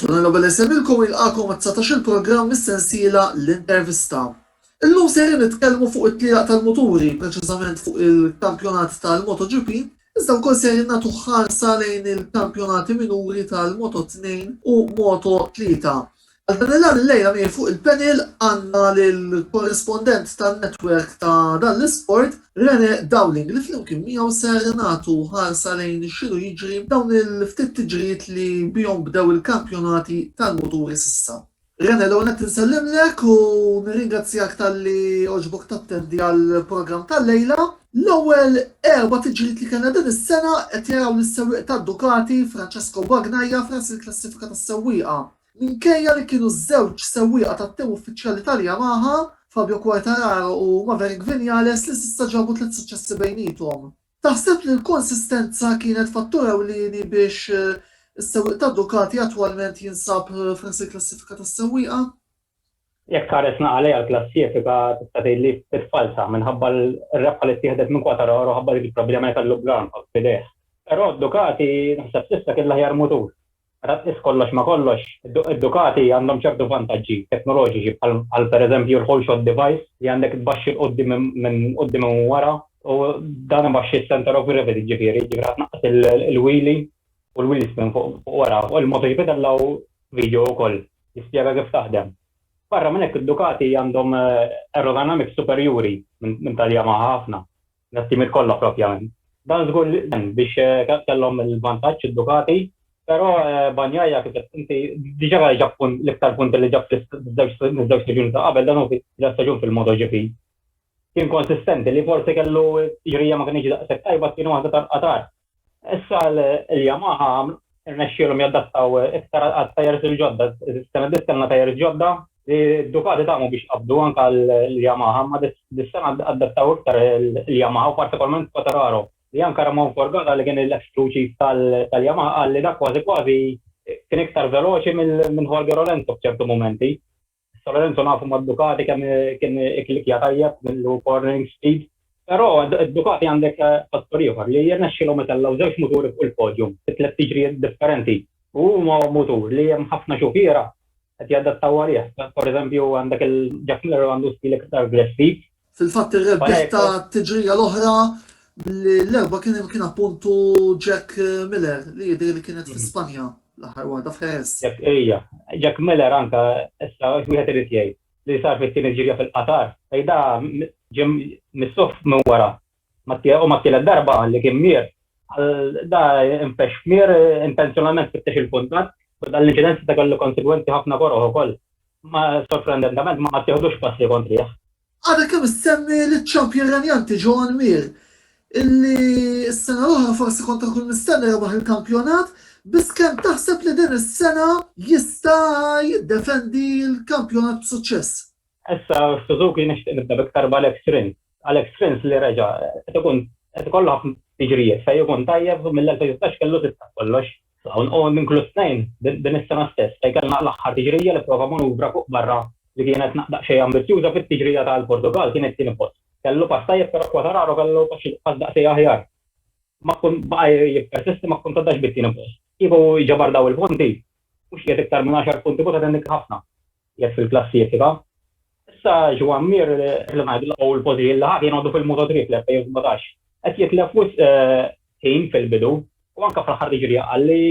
Tuna Nobel Esemilko jilqakom għat-dsatax-il programm mis-sensiela L-Intervista. Illum sejrin nitkellmu fuq it-tlielaq tal-muturi, preċiżament fuq il-kampjonat tal-MotoGP, iżda wkoll sejrin nagħtu ħarsa lejn il-kampjonati minuri tal-Moto2 u Moto3. Għal dan il-għan illejla miegħi fuq il-panel għandna lill-korrispondent tan-network ta' dan l-isport, Rene Dowling li flimkien miegħu ser nagħtu ħarsa lejn x'inhu jiġri b'dawn il-ftit tiġrijiet li bihom bdew il-kampjonati tal-muturi s'issa. Rene, l-ewwel nett insellimlek u nirringrazzjak talli għoġbok tattendi għall-programm tal-lejla. L-ewwel erba' tiġrijiet li kellna din is-sena qed jaraw lis-sewwieq tad-Ducati, Francesco Bagnaia, f'ras il-klassifika tas-sewwieqa. Minkejja li kienu ż-żewġ sewwieqa tat-tim uffiċjali tal-Yamaha, Fabio Quartararo u Maverick Vinales li s'issa ġabu tliet suċċessi bejniethom. Taħseb li l-konsistenza kienet fattur ewlieni biex is-sewwieq ta' Ducati attwalment jinsab f'ras il-klassifika tas-sewwieqa? Jekk tħares naqra lejha l-klassifika tista' tgħid li ftit falza minħabba r-rebħa li ttieħdet minn Quatararo ħabba dik il-problema li kellu bl-arm b'idejh. Però Ducati naħseb s'issa kien l-aħjar mutur. Meta tqis kollox ma' kollox, id-Ducati għandhom ċertu vantaġġi teknoloġiċi bħal bħal pereżempju l-whole shot device li għandek tbaxxi 'l quddiem minn quddiem u minn wara u dan ibaxxi s-centre of gravity ġifieri jiġifieri ħa tnaqqas il-wheelie u l-wheel spin fuq wara. Fuq il-MotoGP tellgħu video ukoll li spjega kif taħdem. Barra minn hekk id-Ducati għandhom aerodynamics superjuri minn tal-Yamaha ħafna. Mit-timiet kollha proprjament. Dan żgur li għen biex kellhom il-vantaġġ id-Ducati, però Bagnaia kif għedt inti diġà kellu ġab punt l-iktar punti li ġab fiż-żewġ staġuni ta' qabel, dan hu t-tielet staġun fil-MotoGP. Kien konsistenti li forsi kellu ġrija ma kinitx daqshekk tajba, t-tieni waħda tal-Qatar Issa l-Yamaha rnexxielhom jadattaw iktar għal tajers il-ġodda. Is-sena d-dies kellna tajers ġodda li d-Ducati tagħmu biex qabdu anke għall-Yamaha, imma dis-sena adattaw iktar il-Yamaha u partikolarment Quartararo, li anke Ramon Forgata li kien l-eks crew chief tal-Yamaha qal li dak kważi kważi kien iktar veloċi minn Jorge Lorenzo f'ċertu mumenti. Sa Lorenzo nafu ma' Ducati kemm kien iklikja tajjeb millu cornering speed, però Ducati għandek fattur ieħor li jirnexxilhom itellgħu żewġ muturi fuq il-podium fi tliet tiġrijiet differenti. U huma mutur li hemm ħafna xufiera qed jadattaw għalih. Per eżempju għandek il-Jack Miller għandu stil iktar aggressiv Fil-fatt ir-rebbieħ ta' tiġrija l-oħra l-erba kien kien appuntu Jack Miller li jidher li kienet fi mhm. Spanja l-aħħar waħda f'Ħeres. Jack ejja, Jack Miller anka issa wieħed irid jgħid li sar fit-tieni ġirja fil-Qatar, fejda ġim missuf minn wara U ma t-tielet darba qal li kien mier. Da infexx f'mier intenzjonalment fittex il-kuntatt u dan l-inċident seta' kellu konsegwenzi ħafna koroh ukoll. Ma sorprendentament ma ttieħdux passi kontrih. Għadha kemm issemmi liċ-champion renjanti Joan Mir, illi s-sena l-oħra forsi kont akun mistenni rebaħ il-kampjonat, biss kemm taħseb li din is-sena jista' jiddefendi l-kampjonat b'suċċess? Issa Suzuki nixtieq nibda b'iktar b'Alex Rins. Alex Rins li reġa' qed ikun qed ikollu ħafna tiġrijiet fejn ikun tajjeb u mill-2016 kellu sitt ta' kollox. Hawn hu inkluż tnejn din is-sena stess fejn kellna l-aħħar tiġrija li pprova manuvra fuq barra li kienet daqsxejn ambizzjuża fit-tiġrija tal-Portugall kien it-tieni post. Kellu pass tajjeb però Quartararo kellu pass daqsxejn aħjar. Ma kkun baqa' jippersisti ma kkun tgħaddax bit-tieni post. Kieku jġabar dawn il-punti mhux qiegħed iktar minn għaxar punti kont qed innikkri ħafna. Qiegħed fil-klassifika. Issa Joan Mir, li ngħidu l-qawl pożi li ħa kien għadu fil-Moto 3 fl-2017, qed jitlef wisq ħin fil-bidu u anke fl-aħħar tiġrija qal li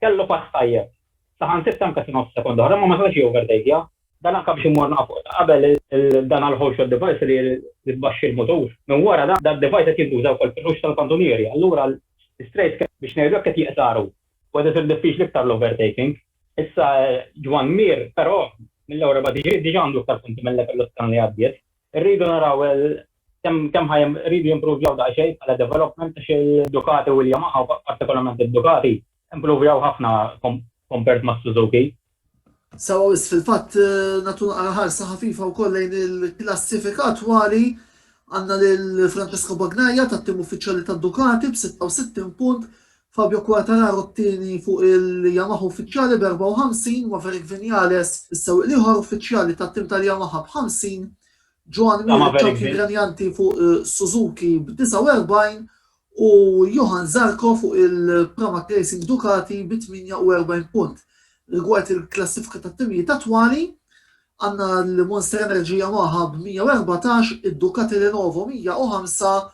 kellu pass tajjeb. Saħansitra anke sa nofs sekonda oħra imma ma setax jiovertakja. Dan anke biex imur nafu ta' qabel dan għall-ħolxot device li tbaxxi l-mutur. Minn wara dan id-device qed jintuża wkoll fil-ħux tal-kantunieri. Allura l-istrejt biex ngħidu hekk qed jiqsaru. Kważi isir diffiċli iktar l-overtaking. Issa Ġwann Mir però mill-Ewropa DG diġà għandu iktar punti milli kellu s-sena li għaddiet. Irridu naraw kemm kemm ħa jridu jimpruvjaw daqsxejn bħala development għax il-Ducati u l-Yamaha, partikolarment id-Ducati, improvjaw ħafna compared mas-Suzuki. Sewwa wisq fil-fatt, nagħtu naqra ħarsa ħafifa wkoll lejn il-klassifika attwali. Għandna lil Francesco Bagnaia tat-tim uffiċjali ta' Ducati b'66 punt, Fabio Quartararo t-tieni fuq il-Yamaha uffiċjali b'54, Maverick Vinales is-sewwieq l-ieħor uffiċjali tat-tim tal-Yamaha b'50, Joan Mir iċ-champion renjanti fuq Suzuki b'49 u Johann Zarco fuq il-Pramac Racing Ducati bi 48 punt. Rigward il-klassifika tat-timijiet attwali, għandna l-Monster Energy Yamaha b' 114, id-Ducati Lenovo 105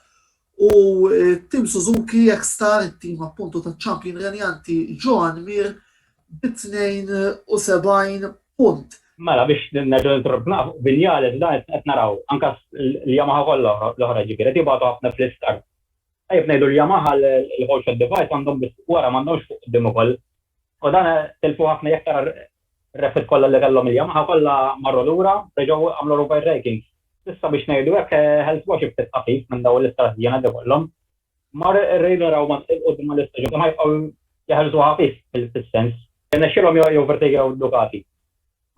u t-tim Suzuki X-Star, it-tim appuntu taċ-champion renjanti Joan Mir, bi 72 punt. Mela biex nerġgħu nintroduċu naqa' fuq Vinales dan issa qed naraw anke l-Yamaha kollha l-oħra ġifieri qed jibgħatu ħafna fl-istart. Tajjeb ngħidu li Yamaha l-whole shot device għandhom biss wara m'għandhomx fuq quddiem ukoll. U dan tilfu ħafna jekk tara r-repit kollha li kellhom il-Yamaha kollha marru lura reġgħu għamlu rubgħin raking. Issa biex ngħidu hekk ħelsuha xi ftit ħafif minn dawn l-istart żjiena li kollhom. Mar ir-rejn u raw mat-tliet quddiem mal-istaġun imma jibqgħu jeħelsu ħafif fis-sens. Irnexxielhom joqgħu Vertegia u Ducati.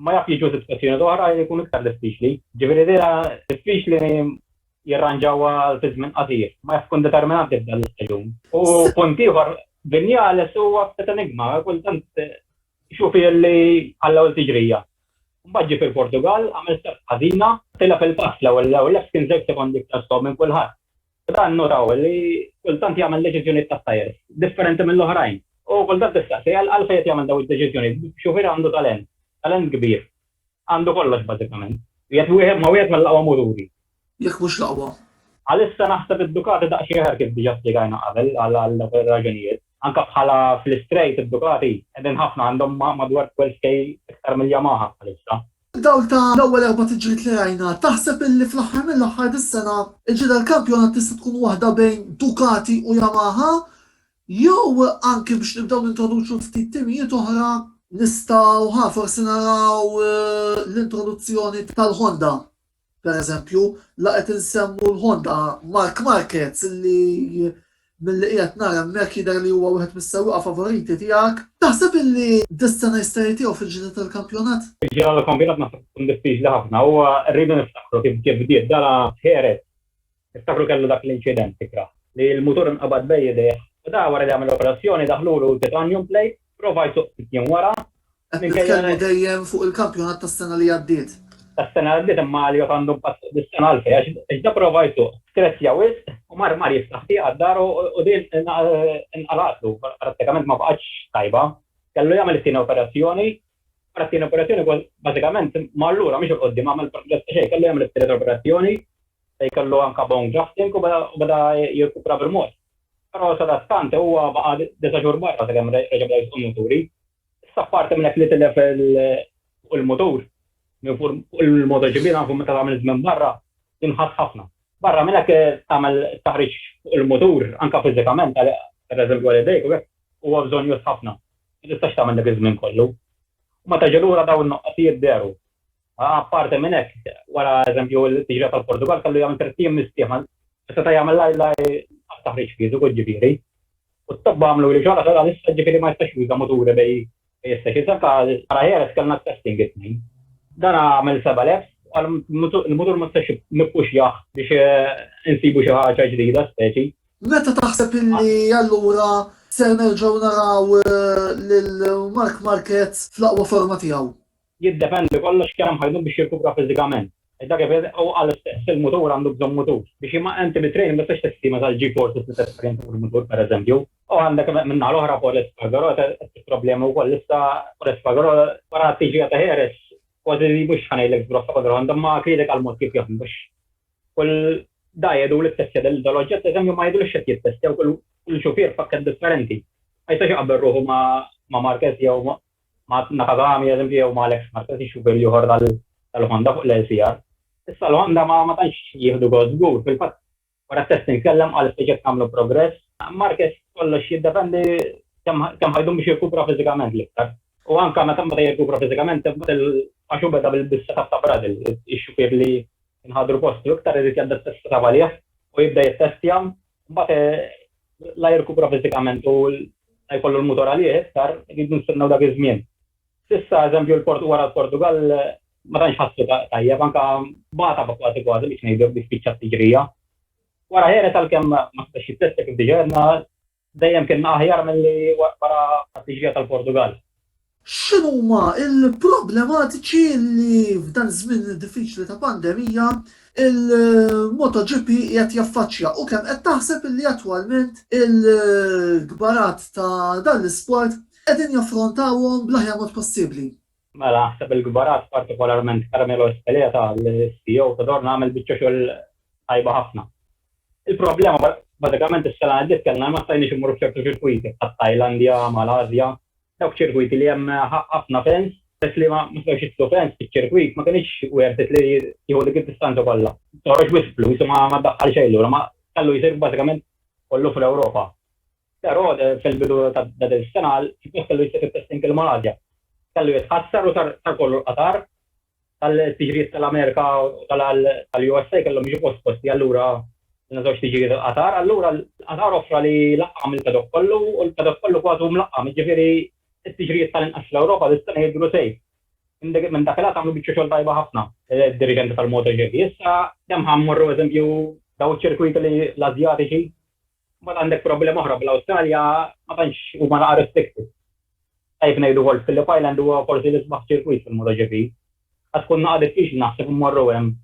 Ma jaf jiġu sitt stazzjonijiet oħra jkun iktar diffiċli. Ġifieri dejha diffiċli jirranġawha fi żmien qasir. Ma jaf tkun determinanti f'dan l-istaġun. U punt ieħor, Vinales huwa ftit enigma, kultant ixuf li għall-ewwel tiġrija. Mbagħad ġie fil-Portugall, għamel start ħażina, tilef il-pass l-ewwel lef kien żewġ sekondi iktar slow minn kulħadd. Dan notaw li kultant jagħmel deċiżjonijiet tat-tajr differenti mill-oħrajn. U kultant tistaqsi, għalfejn qed jagħmel dawn id-deċiżjonijiet? Xufier għandu talent, talent kbir. Għandu kollox bażikament. Jgħid wieħed ma' wieħed mill-aqwa muturi. Jekk mhux l-aqwa. Għalissa naħseb id-Ducati daqsxejn aħjar kif diġà spjegajna qabel għal dawk ir-raġunijiet. Anke bħala fl-istrejt id-Ducati qegħdin ħafna għandhom madwar 12K iktar mill-Yamaha bħalissa. Fid-dawl ta' l-ewwel erba' tiġriet li rajna, taħseb illi fl-aħħar mill-aħħar dis-sena l-ġriet għall-kampjonat tista' tkun waħda bejn Ducati u Yamaha jew anki biex nibdew nintroduċu ftit timijiet oħra, nistgħu ha forsi naraw l-introduzzjoni tal-Honda? Per eżempju, la qed insemmu l-Honda Marc Marquez li milli qiegħed nara hemmhekk jidher li huwa wieħed mis-sewwieqa favoriti tiegħek. Taħseb illi dis-sena jista' jitihom fil-ġlieda tal-kampjonat? Fil-ġeneral kampjonat naħseb tkun diffiċli ħafna. Huwa rridu niftakru kif bdiet, dara f'Jerez Niftakru kellu dak l-inċident ikrah, li l-mutur inqabad bejn idejh u da wara li għamel operazzjoni daħlulu titanium plate, prova jsuk ftit jiem wara, Qed nitkellmu dejjem fuq il-kampjonat tas-sena li għaddiet. Tas-sena li għaddiet imma Elliot għandu impatt fuq dis-sena għalfejn għax da prova jsuq, skrezzja wisq u mar mar jiftaħ tieqa d-dar u din inqalgħatlu, prattikament ma baqgħetx tajba. Kellu jagħmel it-tieni operazzjoni, wara t-tieni operazzjoni bażikament mar lura mhix 'il quddiem għamel progress ta' xejn, kellu jagħmel it-tielet operazzjoni, Se jkollu anke bone grafting u beda jirkupra bil-mod. Però sadattant huwa baqa' disa' xhur barra sakemm reġa' beda jsuq il-muturi. Issa apparti minn hekk li tilef fuq il-mutur, minn fuq il-motoċikli nafu meta tagħmel żmien barra jinħass ħafna. Barra minn hekk tagħmel it-taħriġ fuq il-mutur anke fiżikament, pereżempju għal idejk u hekk, huwa bżonnjuż ħafna. Ma tistax tagħmel dak iż-żmien kollu. U meta ġie lura dawn in-nuqqasijiet dehru. Apparti minn hekk, wara eżempju t-tiġrija tal-Portugall kellu jagħmel tliet ijiem mistrieħ ma seta' jagħmel la t-taħriġ fiżiku ġifieri. U t-tobba għamlu li xogħla sa issa ġifieri ma jistax juża muturi bejn is-sessions. Anke wara Jerez kellna t-testing it-Tnejn. Dan għamel seba' laps u qal l-mutur ma setax nippuxjah biex insibu xi ħaġa ġdida speċi. Meta taħseb illi allura ser nerġgħu naraw lil Marc Marquez fl-aqwa forma tiegħu? Jiddependi kollox kemm hemm ħajnut biex jirkupra fiżikament. Dak ifisser li huwa l-istess il-mutur għandu bżonn mutur. Biex imma inti bit-training ma tistax testima tal-G forces li tesperjenza fuq il-mutur pereżempju. U għandek min-naħa l-oħra Paul Espargaró qed isib problemi wkoll issa. Paul Espargaró wara t-tiġrija ta' Heras kważi li mhux ħa ngħidlek żbroffa kontra Honda imma kritika l-mod kif jaħdmu għax kull da jgħidu li ttestja dal-oġġett pereżempju ma jgħidulux x'qed jittestja u kull xufier pakkett differenti. Ma jistax iqabbel ruħu ma' Marquez jew ma' Nakagami ad esempio jew ma' Alex Marquez ix-xufier l-ieħor tal-Honda fuq l-LCR. Issa l-Honda ma tantx jieħdu gost żgur, fil-fatt wara t-test imkellem qal ftit jekk nagħmlu progress. Marquez kollox jiddependi kemm ħa jdum biex jirkupra fiżikament l-iktar. U anke meta jirkupra fiżikament għax hu beda bis-setup ta' Brazil, ix-xufier li nħadru postu iktar irid jadatta s-setup għalih u jibda jittestja Mbagħad la jirkupra fiżikament u la jkollu l-mutur għalih iktar, irridu nistennew dak iż-żmien. S'issa, eżempju, wara l-Portugall ma tantx ħassu tajjeb, anke bata kważi kważi biex ngħidu hekk biex spiċċa t-tiġrija. Wara Heres għalkemm ma setax jittestja kif diġà għedna, dejjem kien aħjar milli wara t-tiġrija tal-Portugall. X'inhuma l-problematiċi li f'dan iż-żmien diffiċli ta' pandemija il-MotoGP qiegħed jaffaċċja u kemm qed taħseb li attwalment il-kbarat ta' dan l-isport qegħdin jaffrontawhom bl-aħjar mod possibbli? Mela naħseb il-kbarat partikolarment Carmelo Ezpeleta, l-CEO ta' Dorna għamel biċċa xogħol tajba ħafna. Il-problema bażikament is-sena li għaddiet kellna li ma stajniex immorru f'ċertu ċirkwiti bħat-Tajlandja, mal-Ażja, Dawk ċirkwiti li hemm ħafna fans, peress li ma setgħux jidħlu fans fiċ-ċirkwit, ma kinitx worth it li jieħu dik id-distanza kollha. Toħroġ wisq flus u ma ddaħħal xejn lura, ma tħallu jsir bażikament kollu fl-Ewropa. Però fil-bidu ta' din is-sena, il-post kellu jsir fit-testing il-Malasja. Kellu jitħassar u sar kollu l-Qatar. Tal-tiġrijiet tal-Amerika u tal-USA kellhom jiġu posposti allura kellna żewġ tiġrijiet il-Qatar. Allura l-Qatar offra li laqqam il-paddock kollu u l-paddock kollu kważi hu mlaqqam, jiġifieri t-tiġrijiet tal-inqas fl-Ewropa dis-sena jidhru safe. Minn dak il-għad għamlu biċċa xogħol tajba ħafna d-diriġenti tal-MotoGP. Issa kemm ħa mmorru eżempju dawn iċ-ċirkwiti l-Asjatiċi Mbagħad għandek problema oħra bl-Awstralja ma tantx huma naqa' restricted. Tajjeb ngħidu wkoll Phillip Island huwa forsi l-isbaħ ċirkwit fil-MotoGP. Għad tkun naqa' diffiċli naħseb immorru hemm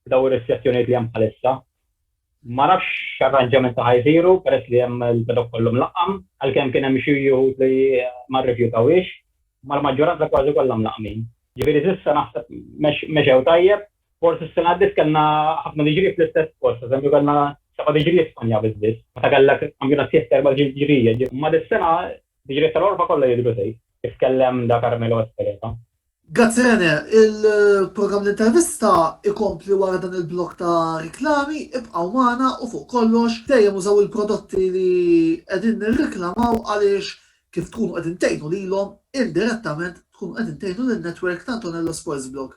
b'dawn ir-restrizzjonijiet li hemm bħalissa. Ma nafx x'arranġamenti ħa jsiru peress li hemm il-paddock kollu mlaqqam, għalkemm kien hemm xi wħud li ma rrifjutawhiex, imma l-maġġoranza kważi kollha mlaqqmin. Ġifieri s'issa naħseb mexew tajjeb. Forsi s-sena għaddiet kellna ħafna diġrijiet fl-istess post, eżempju kellna seba' diġrijiet f'Spanja biss biss, meta kellek kampjonat sieħ t'erba' diġrijiet. Imma dis-sena diġrijiet tal-għorfa kollha jidhru tgħid, kif tkellem Da Carmelo Ezpeleta. Grazzi Rene, il-programm L-Intervista ikompli wara dan il-blokk ta' riklami, ibqgħu magħna u fuq kollox dejjem użaw il-prodotti li qegħdin nirriklamaw għaliex kif tkunu qegħdin tgħinu lilhom indirettament tkunu qegħdin tgħinu lin-network ta' Antonello Sports Blog.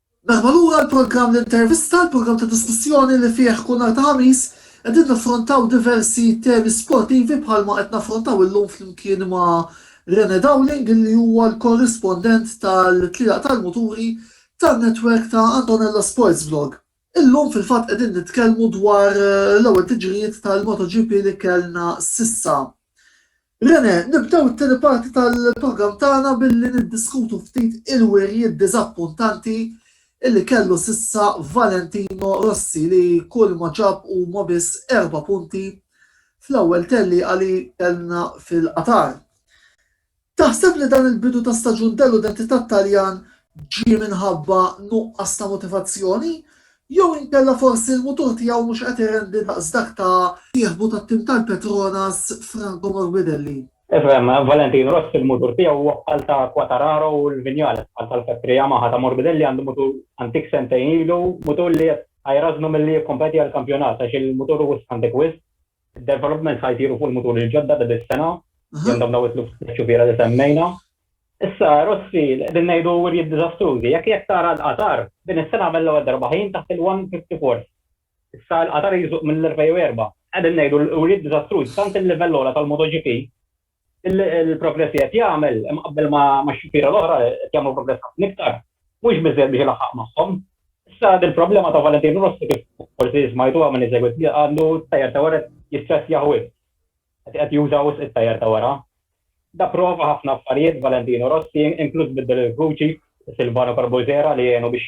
Merħba lura għal programm l-intervista, il-programm ta' diskussjoni li fih kull nhar ta' Ħamis qegħdin naffrontaw diversi temi sportivi bħalma qed naffrontaw illum flimkien ma' Rene Dowling li huwa l-korrispondent tal-tlielaq tal-muturi tan-netwerk ta' Antonella Sports Vlog. Illum fil-fatt qegħdin nitkellmu dwar l-ewwel tiġrijiet tal-MotoGP li kellna s'issa. Rene, nibdew it-tieni parti tal-programm tagħna billi niddiskutu ftit il-wirjiet diżappuntanti li kellu s'issa Valentino Rossi li kulma ġab huma biss erba' punti fl-ewwel tellieqa li kellna fil-Qatar. Taħseb li dan il-bidu ta' staġun deludenti tat-Taljan ġie minħabba nuqqas ta' motivazzjoni Jew inkella forsi l-mutur tiegħu mhux qed irendi daqs dak ta' sieħbu tat-tim tal-Petronas Franco Morbidelli. Ifhem, Valentin Rossi l-mutur tiegħu huwa bħal ta' Quattararo u l-Vinales bħal tal-Fetri Yamaha ta' Morbidelli għandu mutur antik sentejn ilu, mutur li qed jrażżnu milli jikkompeti għall-kampjonat għax il-mutur hu wisq antik wisq. Id-developments ħa jsiru fuq il-muturi l-ġodda ta' dis-sena, li għandhom dawn it-tliet xufiera li semmejna. Issa, Rossi, li qegħdin ngħidu wirjiet diżastrużi, jekk jekk tara l-Qatar, din is-sena għamel l-ewwel darba ħin taħt il-one fifty fourth. Issa l-Qatar jżuq mill-2004. Qegħdin ngħidu l-wirjiet diżastrużi, tant il-livell ogħla tal-MotoGP, il-progress li qed jagħmel, imqabbel max-xufiera l-oħra, qed jagħmlu progress ħafna iktar, mhux biżżejjed biex ilaħħaq magħhom. Issa dil-problema ta' Valentino Rossi kif forsi smajtuha min isegwi t-tieqa għandu t-tajer ta' wara jistressjah wisq. Qed qed juża wisq it-tajer ta' wara. Da prova ħafna affarijiet Valentino Rossi inkluż biddel il-vuċi ta' Silvano Carbulzera li għenu biex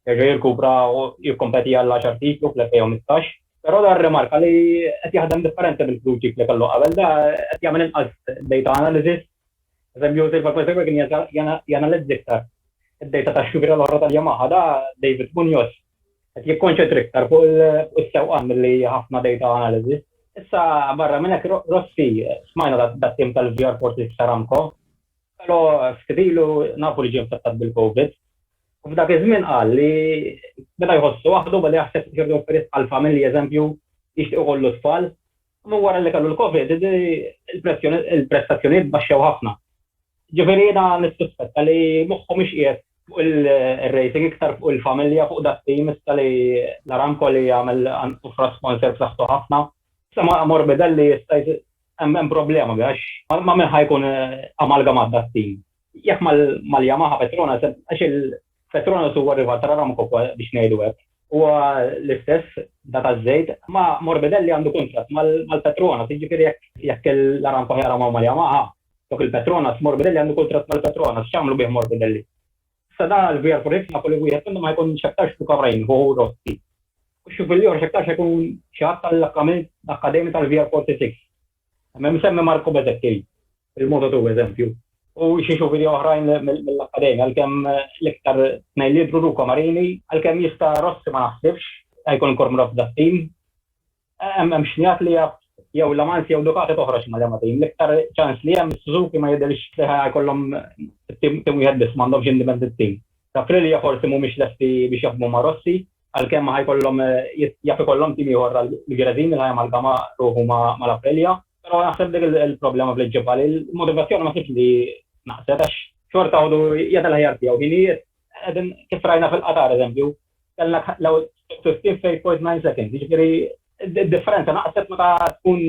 jerġa' jirkupra u jikkompeti għall-għaxar titlu fl-2015. Però da rrimarka li qed jaħdem differenti mill-vuċi li kellu qabel. Da qed jagħmel inqas data analysis Eżempju, Silver Play Faber kien janalizza iktar id-dejta tax-xwiegħra l-oħra tal-Yamaha, da David Munoz qed jikkonċentra iktar fuq is-sewqan milli ħafna dejta analiżi. Issa barra minn hekk Rossi, smajna dat-tim tal-VR Fortis Aramco, pero ftit ilu nafu li ġie infettat bil-Covid. U f'dak iż-żmien qal li beda jħossu waħdu, beda jaħseb biex jerġa' jofri sqall familji, eżempju, jixtieq ikollu tfal, Minn wara li kellu l-Covid, il-prestazzjonijiet baxxew ħafna. Ġifieri jiena nissuspetta li moħħu mhux qiegħed fuq il-racing iktar fuq il-familja, fuq dak tim issa li l-Aramco li jagħmel offra sponsor b'saħħtu ħafna. Issa ma' Morbidelli jista' hemm problema għax ma' min ħa jkun amalgamat dak tim. Jekk mal-Yamaha Petronas, għax il-Petronas huwa rival tal-Aramco biex ngħidu hekk. Huwa l-istess da taż-żejt, ma' Morbidelli għandu kuntratt mal-Petronas, jiġifieri jekk l-Aramco ħajqramhom mal-Yamaha, dawk il-Petronas, Morbidelli għandu kuntratt mal-Petronas, x'jagħmlu bih Morbidelli? Issa da l-VR46 nafu li wieħed minnhom ħajkun x'aktarx Luca Brain, ħu Rossi. U x'juf il-ieħor x'aktarx ħajkun xi ħadd tal-akkademja tal-VR46. Hemm imsemmi Marco Bezzecchi, il-moto tiegħu eżempju, u xi xufiri oħrajn mill-akkademja għalkemm l-iktar tnejn li jidhru Luca Marini, għalkemm jista' Rossi ma naħsibx se jkun inkor mrabbi tat-tim. Hemm x'ngħid li jaf jew La Mansi jew Ducati toħroġ ma' liema tim. L-iktar ċans li hemm is-Suzuki ma jidhirx li ħa jkollhom tim wieħed biss, m'għandhomx indipendent tim. Aprilia forsi mhumiex lesti biex jaħdmu ma' Rossi. Għalkemm ħa jkollhom jaf ikollhom tim ieħor għall-New Jersey li ħa jamalgama ruħu mal-Aprilia. Però naħseb dik il-problema bl-id ġibha li l-motivazzjoni ma sibtx li naqset għax xorta waħdu jagħti l-aħjar tiegħu ħinijiet. Qegħdin kif rajna fil-Qatar eżempju, kellna l-ewwel 15.9 seconds, jiġifieri d-differenza naqset meta tkun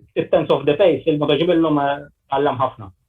ftit tenths of the pace, il-MotoGP llum tgħallem ħafna.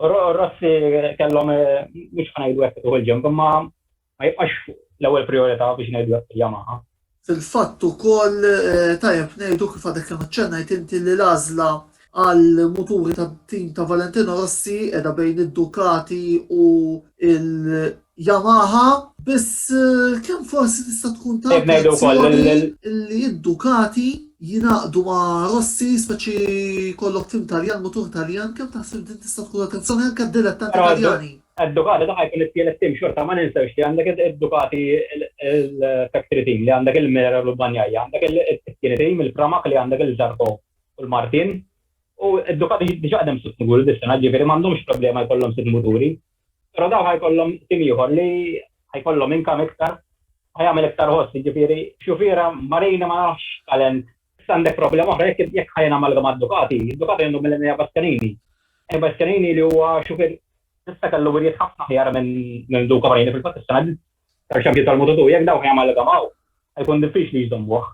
Rossi kellhom, mhux ħa ngħidu hekk ituh il-ġenb, imma ma jibqax l-ewwel prijorità biex ngħidu hekk fil-Yamaha. Fil-fatt ukoll tajjeb ngħidu, kif għadek kemm aċċennajt inti, li l-għażla għall-muturi tat-tim ta' Valentino Rossi qiegħda bejn id-Ducati u Yamaha, biss eh, kemm forsi tista' tkun ta' li id-Ducati jinaqdu ma' Rossi speċi kollok tim Taljan, mutur Taljan, kemm taħseb din tista' tkun attenzjoni anke d-dilettanti Taljani. Id-Ducati daħaj kun it-tielet tim xorta ma ninsewx li għandek id-Ducati il-factory team li għandek il-Mera u l-Banjaja, għandek il-tieni tim il-Pramak li għandek il-Zarko u l-Martin. U id-Ducati diġa għadem sitt muturi dis-sena, ġifieri m'għandhomx problema jkollhom sitt muturi. Però dawn ħajkollhom tim ieħor li ħajkollhom income iktar, ħajagħmel iktar ħoss, jiġifieri xufiera Marini ma nafx x'talent. Issa għandek problema oħra, jekk jekk ħa jingħamalgam ma' Ducati, Ducati għandhom mill-inqas Bastianini. E Bastianini li huwa xufier issa kellu wirjiet ħafna aħjar minn minn Duca Marini fil-fatt is-sena li sar xampjon tal-Moto2, jekk dawn jingħamalgamaw ħajkun diffiċli jżommuh.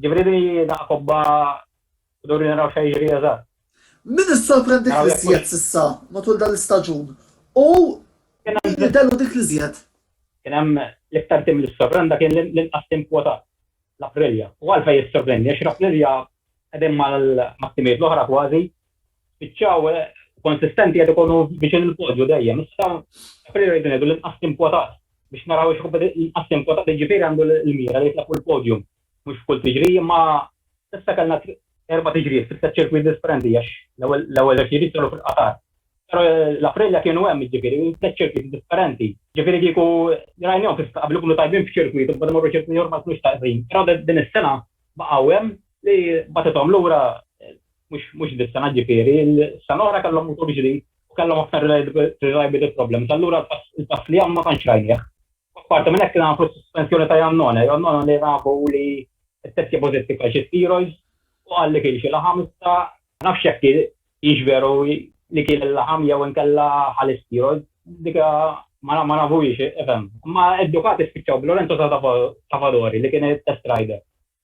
Jiġifieri din hi daqqa kobba Duri naraw x'se jiġri eżatt. Min issorprend dik Naraw jekk l-iżjed hux- s'issa matul dan l-istaġun u Kien hemm- min jidherlu dik l-iżjed? Kien hemm l-iktar tim li ssorprenda kien l- l-inqas tim kwotat, l-Aprilia. U għalfejn jissorprendi? Għax l-Aprilia qegħdin mal- mat-timijiet l-oħra kważi, spiċċaw eh, konsistenti qed ikunu viċin il-podju dejjem. Issa Aprilia rridu ngħidu l-inqas tim kwotat biex naraw x'kompeti- l-inqas tim kwotat jiġifieri għandu l- l-mira li jitlaq fuq il-podium. mhux f'kull tiġrija imma s'issa kellna erba' tiġrijiet fit-tliet ċirkwiti differenti għax l-ewwel żewġ tiġrijiet saru fil-Qatar. Però l-Aprilia kienu hemm jiġifieri tliet ċirkwiti differenti. Jiġifieri kieku rajnihom kif qabel ikunu tajbin f'ċirkwit u mbagħad imorru ċirkwit ieħor ma jkunux tajbin. Però din is-sena baqgħu hemm li bagħtithom lura mhux dis-sena jiġifieri s-sena l-oħra kellhom mutur ġdid u kellhom aktar reliability problems allura l-pass li hemm ma tantx rajnih. Apparti minn hekk kien hawn sospensjoni ta' Iannone. Iannone li rabu li t-testja pożittiv għal xi steroids u qal li kien xi laħam iżda ma nafx jekk hix veru li kiel il-laħam jew inkella ħa l-isteroids. Dik ma nafuhiex, ifhem. Imma d-Ducati spiċċaw b'Lorenzo Savadori li kien it-test rider.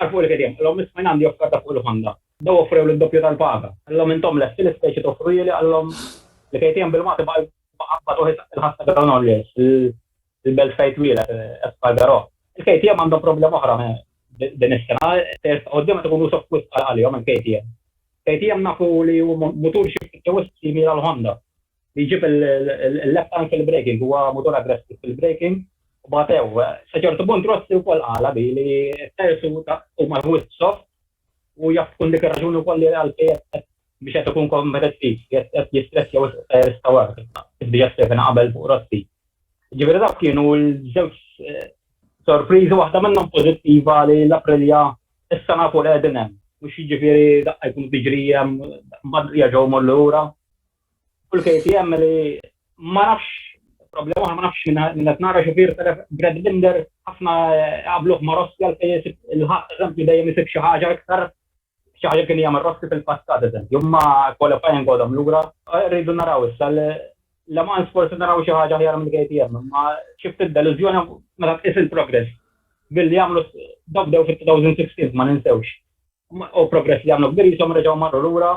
Għarfu li kediem, qal lhom, Isma' jien għandi offerta fuq il-ħonda. Bdew offrew li d-doppju tal-paga. Qal lhom, Intom lesti l-istess xi toffru jili? Qal lhom, Li kediem bil-Magħti baqa' jqabbad uħi saqsi l-ħadd ta' Granollers, il-belt fejn twieled, Espargaró. Il-KTM għandhom problema oħra din is-sena, sejrs ta' quddiem qed ikun usof wisq għalihom il-KTM. KTM nafu li hu mutur xi ftit wisq simili għall-Honda. Jġib il-left anke l-braking, huwa mutur aggressiv fil-braking u bagħtew. Sa ċertu punt Rossi wkoll qala bi li t-tyres huma wisq soft u jaf tkun dik ir-raġuni wkoll li għalfejn qed biex qed ikun kompetittiv, qed jistressja wisq it-tyres ta' wara kif diġà skrivejna qabel fuq Rossi. Jiġifieri dawk kienu l-żewġ sorpriżi, waħda minnhom pożittiva li l-Aprilia issa nafu li qegħdin hemm, mhux jiġifieri daqqa jkunu tiġri hemm mbagħad jerġgħu jmorru lura. U l-KTM li ma nafx problema oħra ma nafx minn qed nara xufier telef Brad Binder ħafna qabluh ma' Rossi għal fejn isib il-ħadd eżempju dejjem isib xi ħaġa iktar xi ħaġa kien jagħmel Rossi fil-passat eżempju imma qualifying għodhom lura. Rridu naraw issa Le Mans forsi naraw xi ħaġa aħjar mill-KTM imma xi ftit delużjoni meta tqis il-progress billi għamlu dawk bdew fit-2016 ma ninsewx u progress li għamlu kbir jisom reġgħu marru lura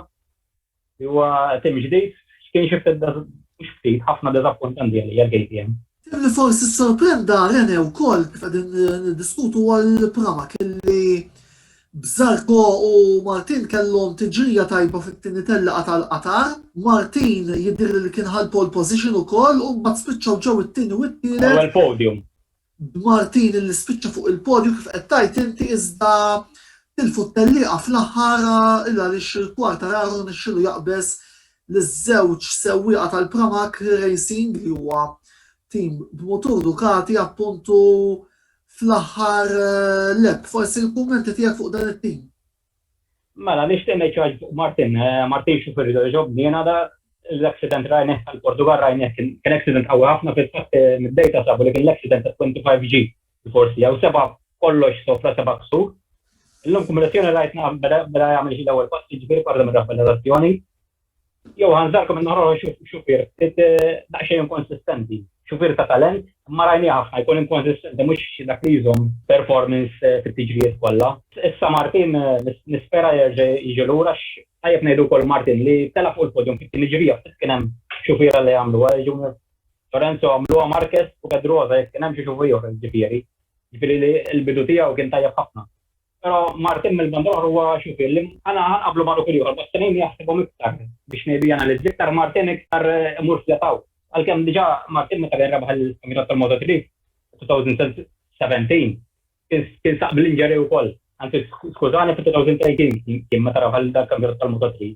Huwa tim ġdid, kien xi ftit, mhux ftit, ħafna diżappuntanti għalija l-KTM. Tim li forsi ssorprenda Renè wkoll kif qegħdin niddiskutu huwa l-Pramac li b'Zarko u Martin kellhom tiġrija tajba fit-tieni tellieqa tal-Qatar. Martin jidhirli li kien ħa l-pole position ukoll u mbagħad spiċċaw ġew it-tieni u t-tielet. L-ewwel podium. b'Martini li spiċċa fuq il-podju kif qed tgħid inti iżda tilfu t-tellieqa fl-aħħar il għaliex Quartararo rnexxielu jaqbeż liż-żewġ sewwieqa tal-Pramac Racing li huwa tim b'mutur Ducati appuntu fl-aħħar lap. Forsi l-kummenti tiegħek fuq dan it-tim. Mela, nixtieq ngħid xi ħaġa fuq Martin. Eh, Martin xi ferri ġobni jiena da l-accident rajnih tal-Portugal rajnih kien accident qawwi ħafna fil-fatt eh, mid-dejta sabu li kien l-accident ta' 25G forsi jew seba' kollox sofra seba' ksur. Illum kombinazzjoni rajtna beda jagħmel xi l-ewwel passi ġifieri parla mir-raffalazzjoni. Jew ħanżarkom minn naħra xufier, daqsxejn inkonsistenti. Xufier ta' talent, imma rajni ħafna jkun inkonsistenti mhux dak li jżomm performance fit-tiġrijiet kollha. Issa Martin nispera jerġa' jiġi lura għax tajjeb ngħidu wkoll Martin li telaq fuq il-podium fit-tieni ġrija ftit kien hemm xufiera li għamluha, jiġu Lorenzo għamluha, Marquez u Pedrosa jekk kien hemm xi xufier ġifieri. Ġifieri li l-bidu tiegħu kien tajjeb ħafna. Però Martin mill-banda l-oħra huwa xufier li aħna nqabblu ma' dawk l-ieħor, Bastianini jaħsibhom iktar biex maybe analizz iktar, Martin iktar imur flat out. Għalkemm diġà Martin meta kien rebaħ il-kampjonat tal-Moto3 fid-2017 kien saq bl-injury wkoll, anzi skużani fit-2018 kien meta rebaħ il-kampjonat tal-Moto3.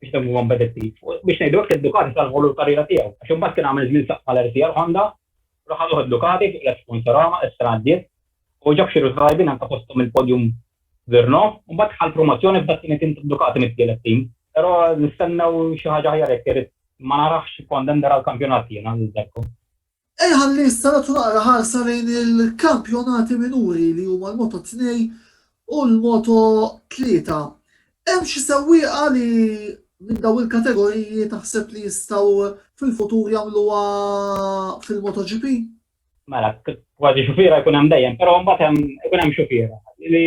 biex nemmnu huwa kompetittiv. U biex ngħidu hekk id-Ducati salvaw lilu l-karriera tiegħu għax imbagħad kien għamel żmien saqqa l-RCR Honda u raħal ruħu d-Ducati fuq l-Sponsorama is-sena għaddiet u ġab xi riżultati tajbin anke fosthom il-podium f'Brno u mbagħad ħa l-promozzjoni f'dak tieni tim tad-Ducati mit-tielet tim. Però nistennew xi ħaġa aħjar hekk irid ma narahx contender għall-kampjonat jien għal Zarco. Ejja ħalli issa nagħtu naqra ħarsa lejn il-kampjonati minuri li huma l-Moto 2 u l-Moto 3. Hemm xi sewwieqa li minn dawn il-kategoriji taħseb li jistgħu fil-futur jagħmluha fil-MotoGP? Mela, kważi xufiera jkun hemm dejjem, però mbagħad hemm ikun hemm xufiera li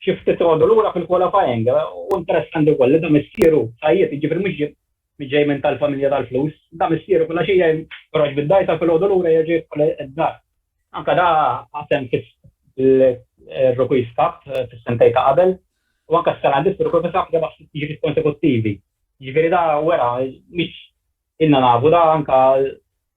xi ftit għodu lura fil-qualifying. U interessanti wkoll li da missieru sajjied, jiġifieri mhux ġej minn tal-familja tal-flus, da missieru filgħaxija jien joħroġ bid-dgħajsa u filgħodu lura jerġa' jidħol id-dar. Anke da qasem fir-Rookies Cup fis-sentejn ta' qabel u anke s-sena distru kol fis-sab rebaħ sitt tiġijiet konsekuttivi. Jiġifieri da wera mhix ilna nafu da anke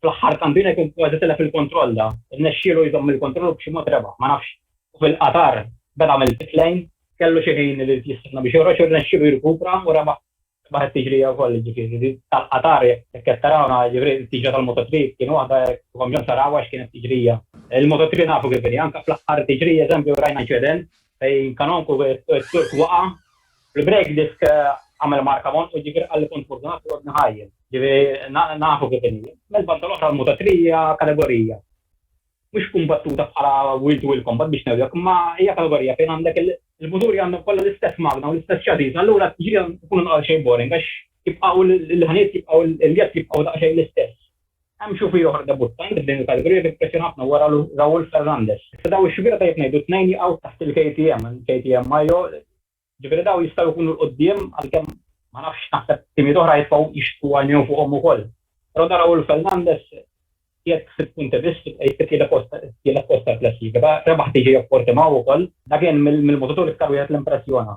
Fl-aħħar kampjuni kien kważi tilef il-kontroll da, irnexxielu jżomm il-kontroll u b'xi mod rebaħ, ma nafx. U fil-Qatar beda mill-pit lane, kellu xi ħin irid jistenna biex joħroġ u rnexxielu jirkupra u rebaħ it-tiġrija wkoll, jiġifieri din tal-Qatar jekk qed tarawna, jiġifieri t-tiġrija tal-Moto 3 kien waħda jekk ikolkom bżonn tarawha x'kienet tiġrija. Il-Moto 3 nafu kif inhi, anke fl-aħħar tiġrija eżempju rajna inċident, Il-kanonku Turk waqa', il-break disk għamel marka mont u ġifieri qalli kont furtunat li għodni ħaj. Ġifieri nafu kif inhi. Mill-banda l-oħra l-Moto3 hija kategorija mhux kumbattuta bħala wheel to wheel combat biex ngħidlek, imma hija kategorija fejn għandek il-muturi għandhom kollha l-istess magna u l-istess chassis, allura t-tixrid għandha tkun għalxejn boring għax jibqgħu l-ħanijiet jibqgħu l-jett jibqgħu daqsxejn l-istess. Hemm xufri oħra debuttanti f'din il-kategorija li kien ppressjona ħafna wara Raul Ferrandes. Issa dawn ix-xufiera tajjeb ngħidu t-tnejn jaqgħu taħt il-KTM, KTM Mayo, ġifieri dawn jistgħu jkunu 'l quddiem għalkemm ma nafx naħseb timijiet oħra jibqgħu jixtqu jgħinew fuqhom ukoll. Però dan Raul Ferrandes qiegħed sitt punti biss qiegħed fit-tielet post tielet post tal-klassifika, rebaħ TJ of Portimao wkoll. Dak kien mill-mutaturi iktar wieħed li impressjona.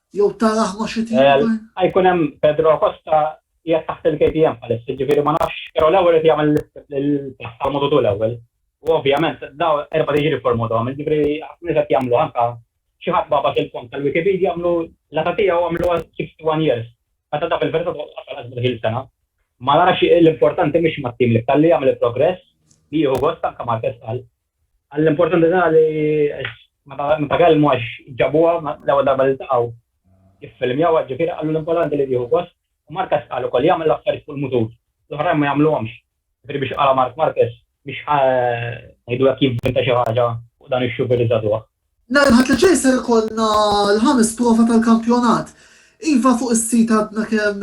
Jew taraħ ma' xi tip ta'. Jkun hemm Pedro Costa qiegħed taħt il-KTM bħalissa, jiġifieri ma nafx, però l-ewwel irid jagħmel il-pass tal-Moto 2 l-ewwel. U ovvjament dawn erba' tiġri f'Moto 1, jiġifieri ħafna nies qed jagħmlu anke xi ħadd bagħbas il-font tal-Wikipedia għamlu l-età tiegħu għamluha 61 years. Meta dak il-verità tkun qasal għax bih il-sena. Ma narax l-importanti mhix mat-tim li jagħmel il-progress, li jieħu gost anke Marquez qal, Għall-importanti tagħha li meta kellmu għax ġabuha l-ewwel darba li ltaqgħu jiffilmjawha, ġifieri qalu l-importanti li tieħu gost u Marques qal ukoll jagħmel l-affarijiet fuq il-mutur, l-oħrajn ma jagħmluhomx. Ġifieri biex qala Marc Marques biex ħa ngħidu hekk jivvinta xi ħaġa fuq dan ix-xufier żagħżugħ. Nhar il-Ħadd li ġej ser ikollna l-ħames prova tal-kampjonat. Iva fuq is-sit għadna kemm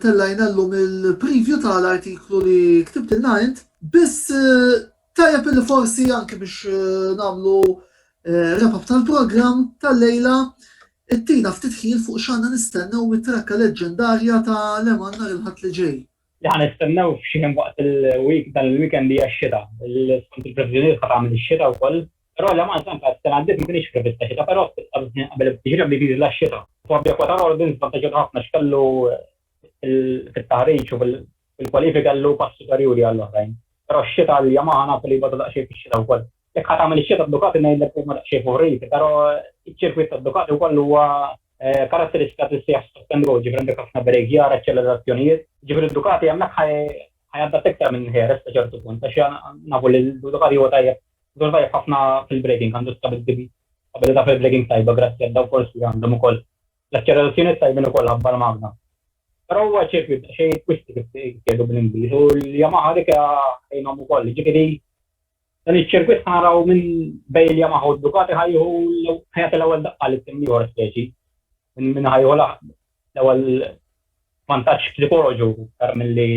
tellajna llum il-preview tal-artiklu li ktibtilna int, biss Tajjeb li forsi anke biex nagħmlu wrap-up tal-programm tal-lejla, ittina ftit ħin fuq x'għandna nistennew mit-trakka leġġendarja ta' Leman nhar il-Ħadd li ġej. Li ħa nistennew f'xi ħin waqt il-week dan il-weekend hija x-xita. Skont il-previżjonijiet ħa tagħmel ix-xita wkoll. Però Leman tant għad s-sena għaddiet ma kinitx prevista xita, però ftit qabel bdiet jiżla x-xita. Huwa b'jaqwa ta' Rawdins vantaġġjat ħafna x'kellu fit-taħriġ u fil-kwalifiki għall-low pass superjuri għall-oħrajn. Però x-xita għal Yamaha nafu li jbatu daqsxejn fix-xita wkoll. Jekk ħa tagħmel ix-xita Ducati ngħidlek li huma daqsxejn favorit, però ċ-ċirkwit ta' Ducati wkoll huwa karatteristikat li ssejjaħ stop and go, ġifieri għandek ħafna brakjar, aċċelerazzjonijiet, ġifieri Ducati hemmhekk ħa jadatta iktar minn Jerez sa ċertu punt għax nafu li Ducati huwa tajjeb Huwa tajjeb ħafna fil-braking, għandu stabilità fil-braking tajba grazzi għad-downforce li għandhom ukoll. L-aċċelerazzjonijiet tajbin ukoll ħabbar Magna. Però huwa ċirkwit daqsxejn twisty kif jgħidu bl-Ingliż u l-Yamaha dik għinhom ukoll. Jiġifieri dan iċ-ċirkwit ħa naraw min bejn il-Yamaha u d-Ducati ħa jieħu ħa jagħti l-ewwel daqqa lit-tim l-ieħor speċi minn min ħa jieħu l-ewwel vantaġġ psikoloġu aktar milli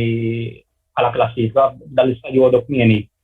bħala klassifika b'dan l-istadju għodu kmieni.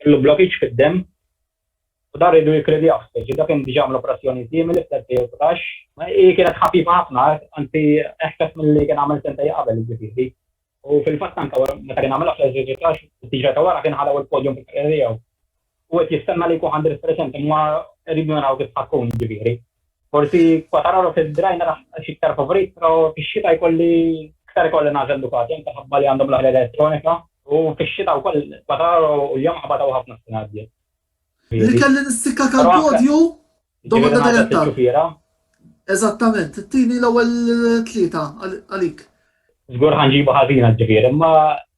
Kellu blokkiġġ fid-demm u dan riedu jikkredjawh, specie dak kien diġà għamel operazzjoni simili fl-2019. Hi kienet ħafifa ħafna, anzi eħfef milli kien għamel sentej qabel, jiġifieri. U fil-fatt anke wara meta kien għamilha fl-2019, fis-siġra ta' wara kien ħa l-ewwel podium fil-karriera tiegħu. Hu qed jistenna li jkun ħa Andrés Crescent imma rridu naraw kif ħa tkun, jiġifieri. Forsi Quartararo fil bdejn naraħ x'iktar favorit, però fix-xita jkolli iktar ikolli nagħżel Ducati anke ħabba li għandhom l-aħjar elettronika u fix-xita wkoll Quartararo u l-Yamaha batgħu ħafna s-sena għaddiet. Li kelli nistikka tal-podju? Domanda diretta. Eżattament, tini l-ewwel tlieta għalik. Żgur ħa nġibu ħażina ġifieri, imma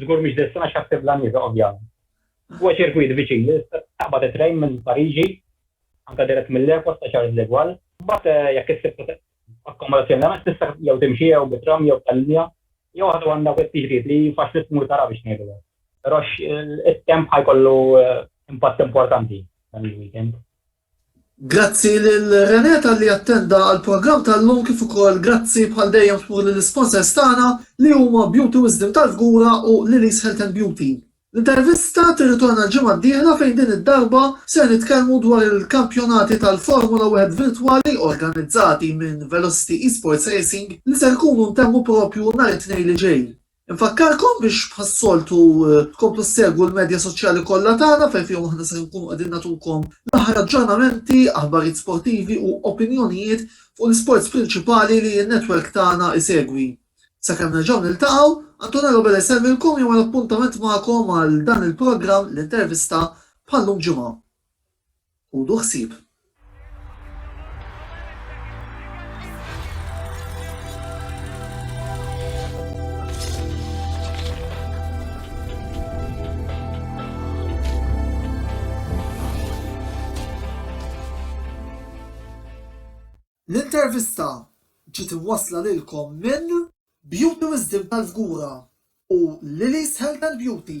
Żgur mhix distance għax ħassib la nieża ovvjament. Huwa ċirkwit viċin li tista' taqbad it-trejn minn Pariġi, anke dirett mill-airport ta' Charles de Gaulle. Mbagħad jekk issib akkomodazzjoni l-għamel tista' jew timxi jew bit-tram jew b'tal-linja jew waħda minn dawk it-tixrid li faċli tmur tara biex ngħidu hekk. Però it-temp ħa jkollu impatt importanti dan il-weekend. Grazzi lil René talli attenda għall-programm tal-lum kif ukoll grazzi bħal dejjem kbur lill-isponsors tagħna li huma Beauty Wisdom tal-Fgura u Lili's Health and Beauty. L-intervista tirritorna l-ġimgħa d-dieħla fejn din id-darba ser nitkellmu dwar il-kampjonati tal-Formula Wieħed virtwali organizzati minn Velocity Esports Racing li ser ikunu ntemmu propju nhar it-Tnejn li ġej. Infakkarkom biex bħas-soltu tkomplu ssegwu l-medja soċjali kollha tagħna fejn fihom aħna ser inkunu qegħdin nagħtukom l-aħħar aġġornamenti, aħbarijiet sportivi u opinjonijiet fuq l-isports prinċipali li n-netwerk tagħna jsegwi. Sakemm nerġgħu niltaqgħu, Antonello Bella jsellmilkom jew għal appuntament magħkom għal dan il-programm, l-intervista, bħal-lum Ġimgħa. Ħudu ħsieb. L-intervista ġiet imwassla lilkom minn. Beauty Wisdom tal-Fgura u Lili's Health and Beauty.